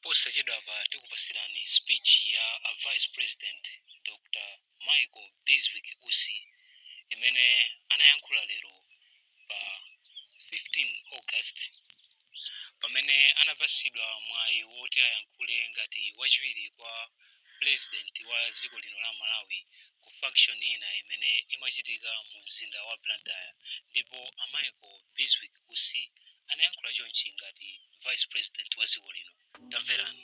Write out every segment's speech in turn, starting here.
posachedwapa tikupasirani speech ya a vice president dr michael bizwick usi imene anayankhula lero pa 15 august pamene anapasidwa mwayi woti ayankhule ngati wachiwiri kwa Pulezidenti wa dziko lino la Malawi ku function ina imene imachitika mu mzinda wa Blantyre ndipo a Michael Bizwick Usi anayankhula chonchi ngati Vice President wa dziko lino. Tamverani.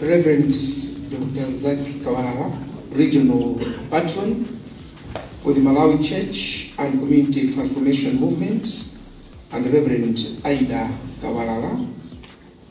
Reverend Dr. Zach Kawara, Regional Patron for the Malawi Church and Community Transformation Movement, and Reverend Aida Kawara,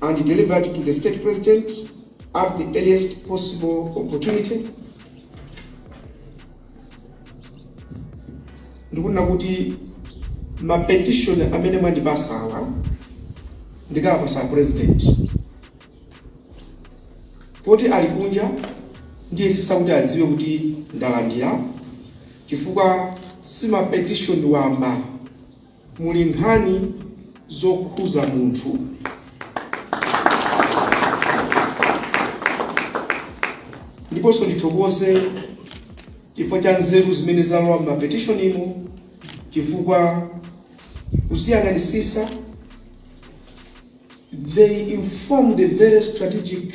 and delivered to the State President at the earliest possible opportunity. ndikunena kuti mapetition amene mwandipasawa ndikawapasa president poti ali kunja ndiyesesa kuti adziwe kuti ndalandira chifukwa si mapetition wamba muli nkhani zokhuza munthu ndiponso ndithokoze chifukwa cha nzeru zimene zalowa m'mapetitionimo chifukwa kuziyang'anisisa they inform the very strategic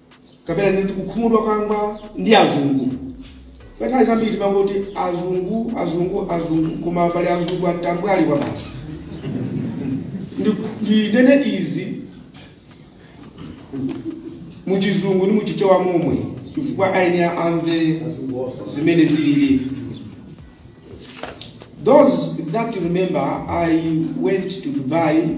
kapena ndi kukhumudwa kwanga ndi azungu nthawi zambiri timangoti azungu azungu azungu koma pali azungu atambwali kwabasi ndinene izi muchizungu ndi muchichewa momwe chifukwa aeniake amve zimene zilili those that remember i went to dubai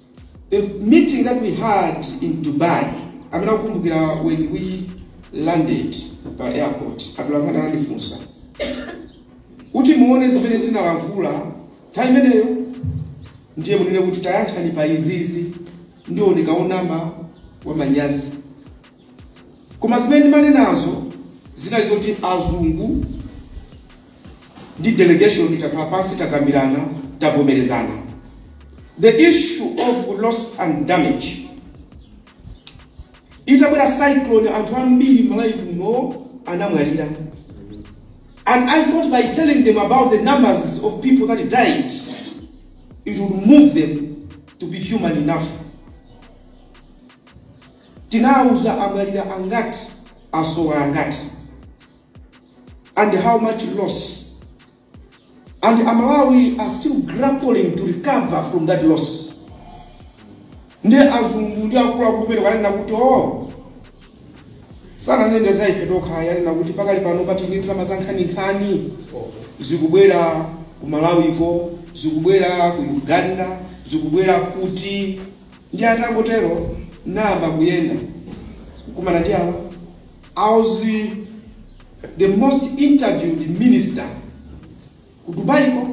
The meeting that we had in Dubai, amene akukumbukira when we landed pa airport, atolankhani anandifunsa kuti muone zimene ndinalankhula time imeneyo, ndiye munene kuti tayankhani pa izizi, ndiye onama aona manyazi. Koma zimene ndimanenazo zinali zoti azungu ndi delegation takhala pansi takambirana tavomerezana the issue of loss and damage itabwera cyclone anthu ambiri malawi kuno anamwalira and i thought by telling them about the numbers of people that died it would move them to be human enough Tinauza amwalira angati, asowa angati and how much loss and amalawi are still grappling to recover from that loss. Ndi azungu ndi akuluakulu pena kanena kuti o sananene za ife tokha anena kuti pakali pano pali ndalama za nkhaninkhani zikubwera ku malawiko zikubwera ku uganda zikubwera kuti Ndiye atangotero ndayamba kuyenda kukumana ndi awa I was the most interviewed minister ku Dubai ko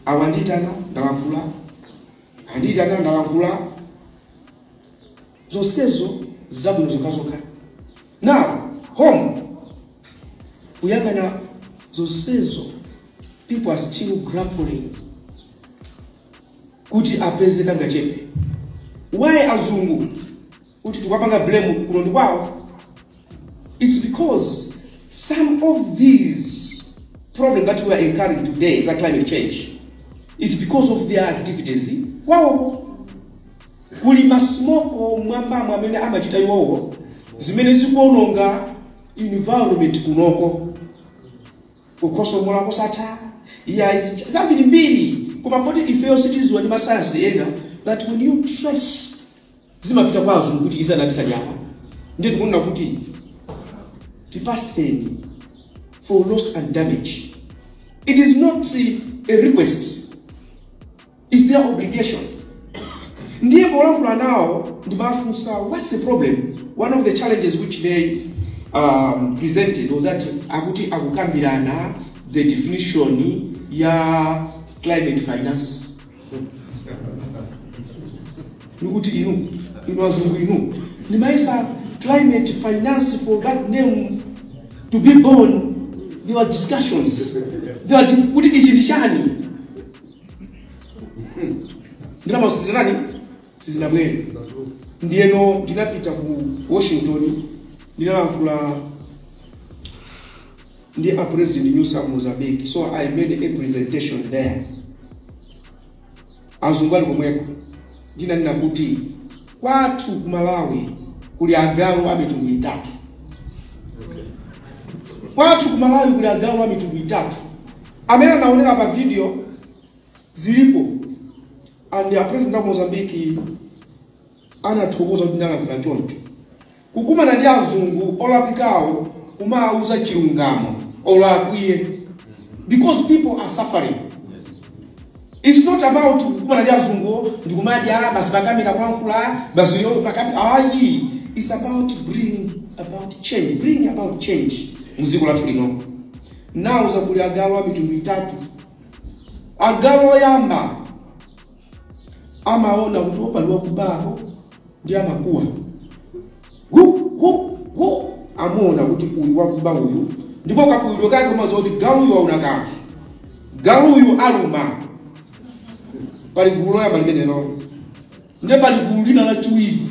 awa anditana ndalankhula anditana ndalankhula zonsezo zabwino zokhazokha now home kuyang'ana zonsezo people are still grappling kuti apeze kangachepe why azungu kuti tikapanga blame kuno ndi kwawo it's because some of these problems that we are incurring today za climate change is because of their activities kwawoko kuli masmoko mwambamo amene amachita iwowo zimene zikuononga environment kunoko kukhosomola kosatha iyayi zicha- zambirimbiri koma poti ifeyo sitidziwa ndi masayansi ena that when you trace zimapita kwa azungu kuti izi anabisa nyama ndiye tikunena kuti tipatseni for loss and damage it is not uh, a request It's their obligation. Ndiye polankhula nawo ndimafunsa what's the problem? One of the challenges which they um, presented was that akuti akukambirana the definition ya climate finance. Nikuti inu, inu azungu inu. Mmayesa climate finance for that name to be born. There were discussions. There were, kuti ichi ni chani? ndalamazo zinatani sizinabwere ndiyeno ndinapita ku washington ndinalankhula ndi a president nyusi ku mozambique so i made a presentation there azungu ali komweko ndinanena kuti kwathu ku malawi kuli agalu a mitundu itatu kwathu ku malawi kuli agalu a mitundu itatu amene anaonera pa video zilipo and the president of Mozambique anathokoza kuti ndalankhula choncho kukumana ndi azungu olakwawo kumawauza chilungamo olo akwiye because people are suffering it's not about kukumana ndi azungu ndikumadya basi pakamera kulankhula basi yo pakamera ayi it's about bringing about change bringing about change muziko lathu lino Now kuli agalu a mitundu itatu. Agalu oyamba amaona kuti apo pali wakuba apo ndi amakuwa gu gu gu amaona kuti uyu wakuba uyu ndipo kakuwidwe kake umadziwa kuti galuyu waona kanthu galuyu aluma pali gulu loyamba limenelo ndiye pali gulu lina lachiwiri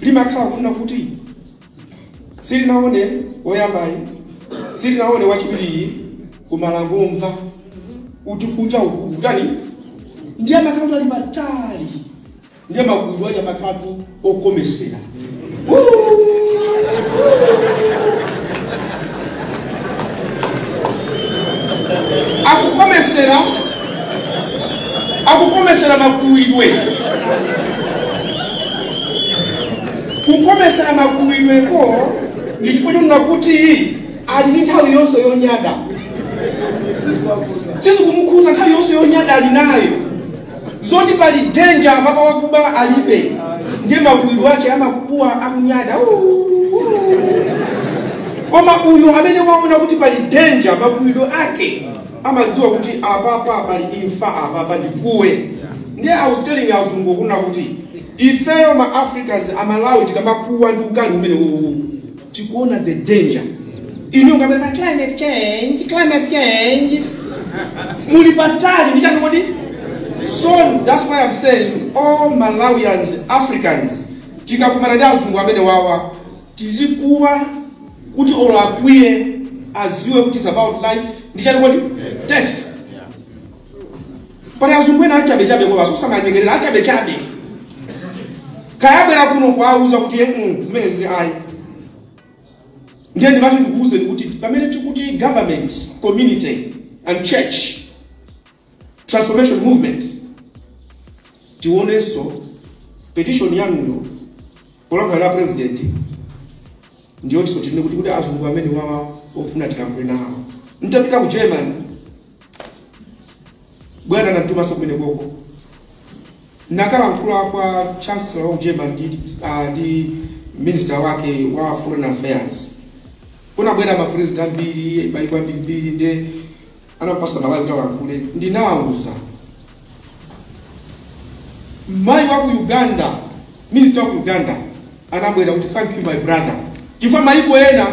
limakhala kunena kuti silinaone woyambayo silinaone wachiwiriyo koma langomva kuti kunja uku kwatani ndiye amakhala kuti ali patali ndiye magulu aja amakhala tu okomesera akukomesera akukomesera makuwidwe kukomesera makuwidweko ndi chifukwa chonena kuti ali ndi nthawi yonse yonyada sizikumukhuza nthawi yonse yonyada ali nayo zoti pali danger papa wakuba alibe ndiye makuwidwe ake amakuwa akunyada "Uu, uu." koma uyu amene waona kuti pali danger makuwidwe ake amadziwa kuti apapa pali imfa apapa ndikuwe ndiye i was telling azungu kunena kuti ifeyo ma africans amalawi tikamakuwa ndi ukali umene uwu tikuona the danger inu ndi amene pa climate change climate change muli patali ndi chani kodi so that's why i'm saying all malawians africans tikakumana ndi azungu amene wawa tizikuwa kuti olo akwiye aziwe kuti it's about life ndi chani kodi death pali azungu ena achabechabe koma asosamanyengerera achabechabe kaya abwera kuno kuwauza kuti "Mm, zimene zizi ayi ndiye ndimati ndikuuzeni kuti pamene tikuti government community and church transformation movement tionenso kuti petition yanuyo polankhula la president ndiyetinso tinene kuti kuti azungu amene wawa ofuna tikampe nawo ntapita ku german bwana anatumanso kumenekoko nkakalankhula kwa chancellor wa german ndi, ah, ndi minister wake wa foreign affairs kunabwera mapresident ambiri maiko ambirimbiri nde anapatsa Malawi kuti alankhule ndinawauza mayi wa ku Uganda minister wa ku Uganda anabwera kuti thank you my brother chifukwa mayiko ena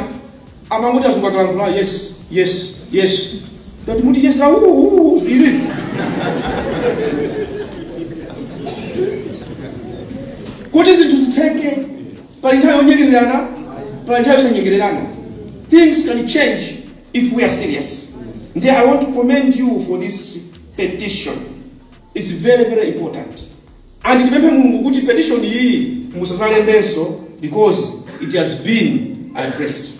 amangoti azungu akalankhula yes yes yes ndati muti yes auuu zizizi kuti zinthu zitheke pali nthawi yonyengererana pali nthawi yosanyengererana things can change if we are serious nde i want to commend you for this petition its very very important and ndipemphe mulungu kuti petition iyi musadzalembenso because it has been addressed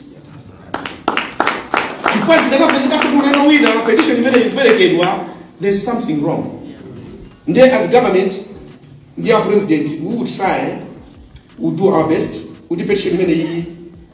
chifukwa zikadzapezekanso kuno wina petition imene ikuperekedwa there's something wrong nde as government ndi a president we will try we will do our best kuti petition imene iyi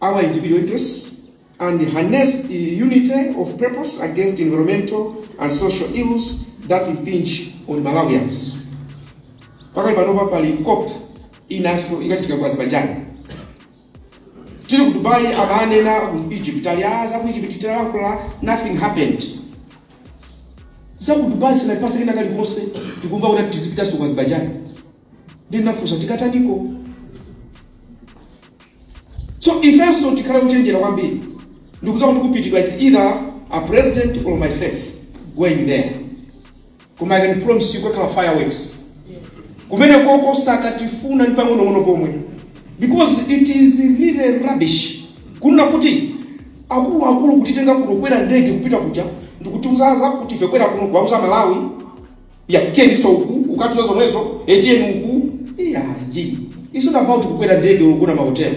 our individual interests and harness unity of purpose against environmental and social ills that impinge on Malawians. Pakali panopa pali COP inanso ikachitika ku Azerbaijan. Tili ku Dubai amanena ku Egypt ali a za ku Egypt tinalankhula nothing happened. Za ku Dubai sinatipatsa kena kalikonse tikumva kuti tizipitanso ku Azerbaijan. ndinafunsa tikukataniko so ifenso tikhale ochenjera kwambiri ndikuuza kuti kupitidwa it's either a president or myself going there koma i can promise you kukakhala fireworks kumenekoko sakatifuna ndi pang'onong'ono pomwe because it is really rubbish kunena kuti akuluakulu kutitenga kuno kukwera ndege kupita kuja ndikutiuza za kuti ife kubwera kuno kuwauza Amalawi ya tiyeni so uku ukatiuza zomwezo e tiyeni uku iya yi it's not about kukwera ndege kugona mahotelo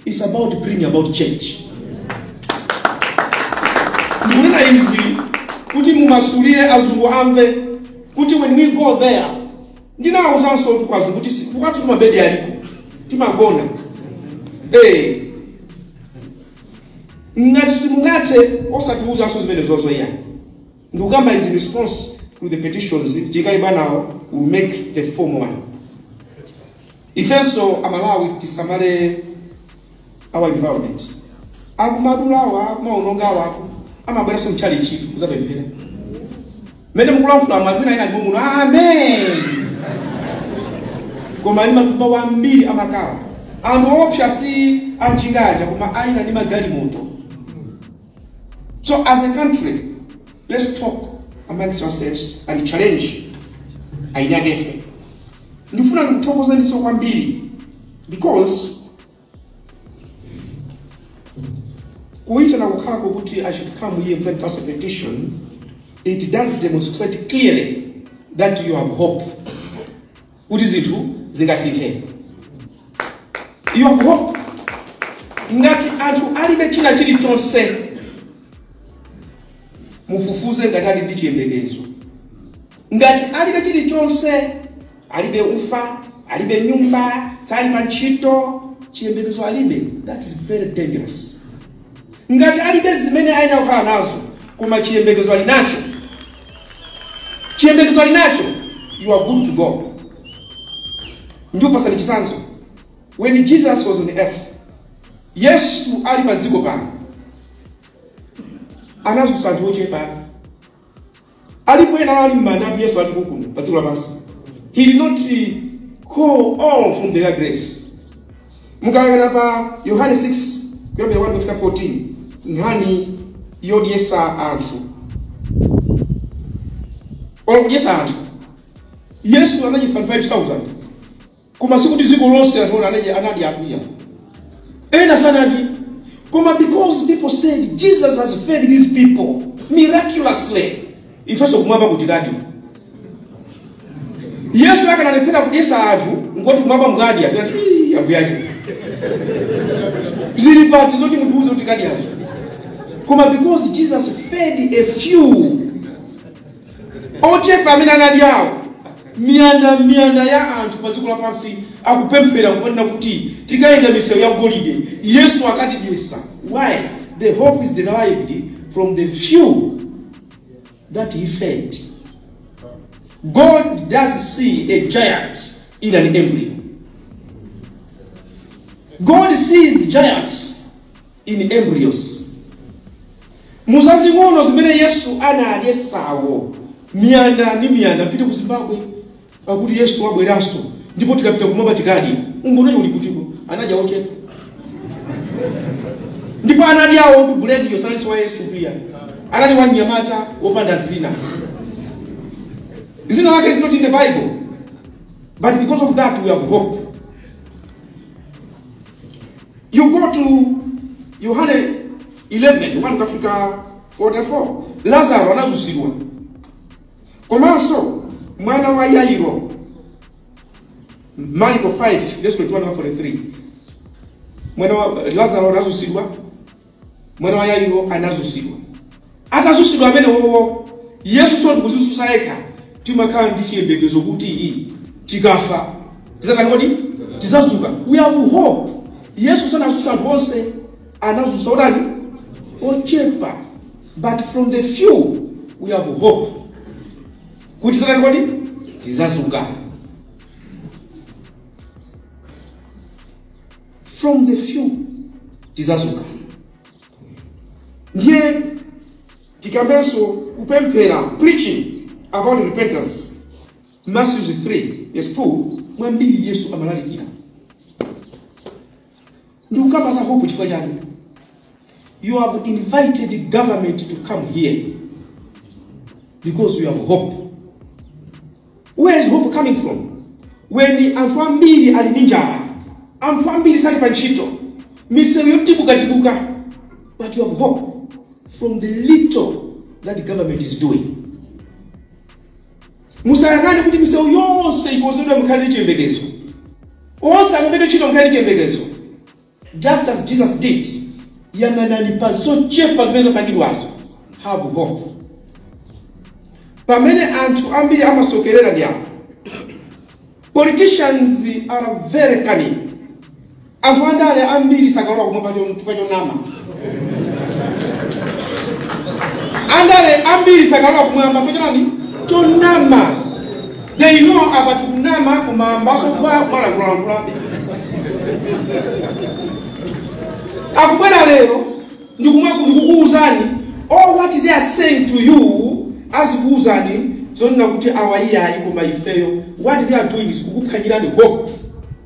it's about bringing about change ndikunena izi kuti mumasulire azungu amve kuti when we go there ndinawauzanso kuti kwa azungu kuti si- kukhala kuti kwathu mabedi aliko timagona Eh. ngati simungathe osatiwuzanso zimenezozo iyayi ndikukamba in response to the petitions tikali banawo we'll make the formal one ifenso amalawi tisamale our environment akumadulawa akumaonongawa amabweranso mtchalitchi kudzapemphera mmene mukulankhula mwabwina ina ali muno amen koma ndi matumba ambiri amakalawa anthu ootcha si anjinga aja koma eni a magalimoto So as a country, let's talk amongst ourselves and challenge ainakefe. Ndifuna ndikuthokozaniso kwambiri because kuitana kukhako kuti I should come here and send us a petition, it does demonstrate clearly that you have hope. kuti zinthu zingasinthe you have hope ngati anthu alibe china chilichonse mufufuze ngati ali ndi chiyembekezo ngati alibe chilichonse alibe ufa alibe nyumba sali pa ntchito chiyembekezo alibe that is very dangerous ngati alibe zimene ayenera kukhala nazo koma chiyembekezo ali nacho chiyembekezo ali nacho you are good to go ndikupasani chitsanzo when jesus was on earth yesu ali pa dziko pano anadzutsa anthu ochepa alipo ena anali mmanda anthu yesu alipo kuno pa dziko lapansi he did not uh, call all from their graves mukayang'ana pa yohane 6 kuyambira 1 kufika 14 nkhani yodyetsa anthu olo kudyetsa anthu yesu anadyetsa anthu 5000 koma sikuti dziko lonse anthu anadya anadya awa ena sanadye koma because people said jesus has fed these people miraculously ifenso kumwamba tikadya yesu akanalephera kudyetsa anthu ngoti kumwamba tikadya tikanati "Ii, abusa zili pati zoti mutiuze kuti tikadyazo koma because jesus fed a few ochepa amene anadyawo miyanda miyanda ya anthu pa dziko lapansi akupemphera kumanena kuti tikayenda m'misewu ya golide yesu akatidyetsa why the hope is derived from the few that he fed. God does see a giant in an embryo. God sees giants in embryos. muzazing'ono amene yesu anadyetsawo miyanda ndi miyanda mupite ku zimbabwe Akuti Yesu abweranso ndipo tikapita kumwamba tikadya. Umboni uli kuti uko? Anadya ochepa. Ndipo anadyawo ndi buledi sanalinso wa Yesu iyayi. Anali wa mnyamata wopanda dzina. Dzina lake is not in the Bible. But because of that we have hope. You go to Yohane 11, 1 kufika 44. Lazaro anadzutsidwa. komanso mwana wa yairo mariko 5 verse 21 mpaka 43 mwana wa lazaro anadzutsidwa mwana wa yairo anadzutsidwa atadzutsidwa amene wowo yesunso ndi kudzidzutsa yekha timakhala ndi chiyembekezo kuti tikafa tidzatani kodi tidzadzuka we have hope yesu sanadzutsa anthu onse anadzutsa otani ochepa but from the few we have hope kuti tidzatani kodi tidzadzuka from the few tidzadzuka ndiye tikambenso kupemphera preaching about repentance matthew 3 verse 2 mwambiri yesu amalalikira ndikukamba za hope chifukwa chani you have invited government to come here because you have hope where is hope coming from when anthu ambiri ali ndi njala anthu ambiri sali pa ntchito misewu yodukaduka but you have hope from the little that government is doing Musayang'ane kuti misewu yonse ikonzedwe mukhale ndi chiyembekezo. Onse alembedwe ntchito mukhale ndi chiyembekezo. Just as Jesus did, yang'anani pa zochepa zimene zapangidwazo. Have hope. Pamene anthu ambiri amasokerera ndi apo. Politicians are very cunning. Anthu andale ambiri sakalowa kumwamba cho- chifukwa chonama. Andale ambiri sakalowa kumwamba chifukwa chotani? Chonama. They know apa tikunama koma ambaso amalankhulalankhulabe. Akubwera lero ndikum- ndikukuuzani all what they are saying to you azikuuzani zonena kuti awa iyayi koma ifeyo what they are doing is kukuphwanyirani hope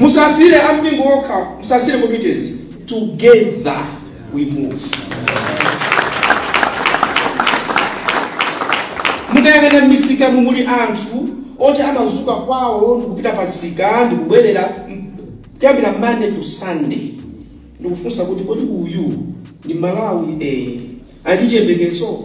musasiyire ampingo okha musasiyire committees together we move mukayang'ana m'misika mumuli anthu oti amadzuka kwawo ndikupita pamsika ndikubwerera m- kuyambira monday to sunday ndikufunsa kuti kodi uyu ndi mmalawi eh, ali chiyembekezo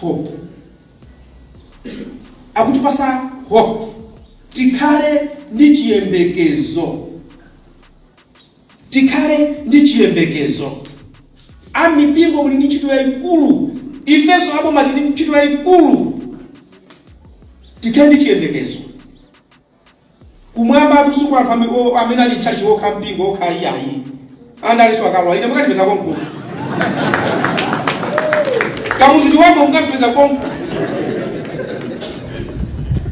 hope akutipatsa hope tikhale ndi chiyembekezo tikhale ndi chiyembekezo amipingo muli ndi ntchito yayikulu ifenso aboma tili ndi ntchito yayikulu tikhale ndi chiyembekezo Kumwambatu si kwa anthu ame- o- amene ali tchachi okha mpingo okha iyayi andalinso akalowa ine mukandipeza konko kumudzi kwako mukandipeza konko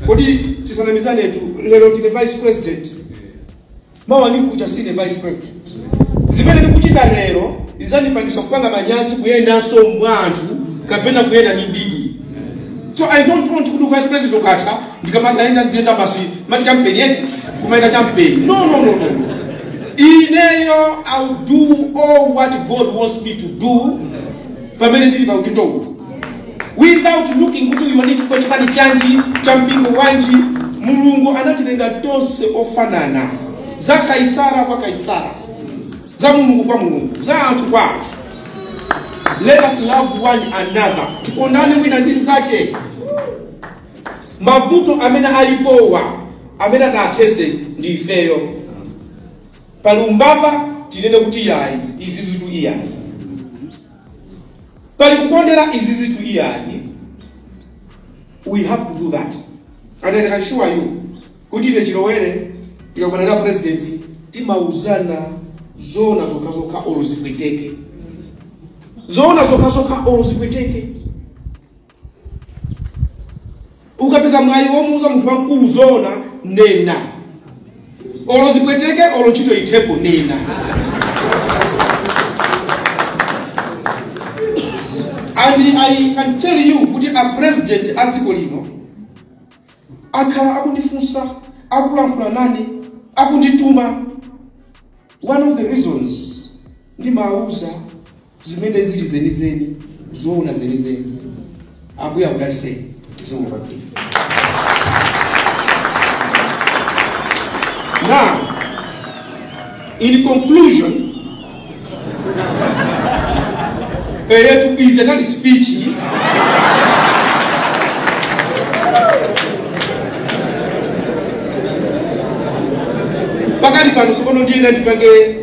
kodi tisanamizanetu lero ndine vice president mawa kukacha sindine vice president zimene ndikuchita lero zidzandipangisa kupanga manyazi kuyendanso mwa anthu kapena kuyenda ndi bibi so i don't want kuti vice president ukatha ndikamakayenda ndiziyenda basi mati champeni eti kumayenda champeni no no no no no. ineyo ill do all what god wants me to do pamene ndili pa udindo uwu without looking kuti uyu ndi wa chipani chanji wa mpingo wanji mulungu anatilenga tonse ofanana za kaisara kwa kaisara za mulungu kwa mulungu za anthu kwa anthu let us love one another tikondane wina ndi nzake mavuto amene alipowa amene angathetse ndi ifeyo pali umbava tinene kuti yayi izi zitu iyayi pali kukondera izi zitu iyayi we have to do that and i can assure you kuti ine chilowere tikakumana na president timauzana zoona zokhazokha olo zipweteke zoona zokhazokha olo zipweteke ukapeza mwayi womuuza munthu wamkulu zoona nena olo zipweteke olo ntchito ithepo nena and i can tell you kuti a president a dziko lino akhala akundifunsa akulankhula nane akundituma one of the reasons ndimawuza zimene zili zenizeni zoona zenizeni ambuye akudalitseni zikomo kwambiri now in conclusion eyetu ija inali speech pakati pano sokono ndiye ndipange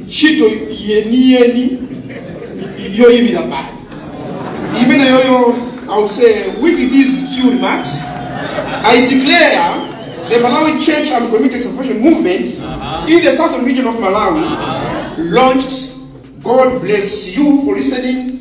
ntchito yeniyeni yoyimira mbali imeneyoyo i will say with these few remarks i declare the malawi church and community transformation movement in the southern region of malawi launched god bless you for listening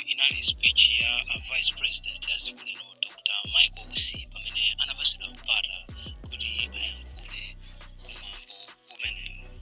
inali speech ya vice president wa dziko lino dr michael usi pamene anapatsidwa mpata kuti ayankhule kumwambo umenewu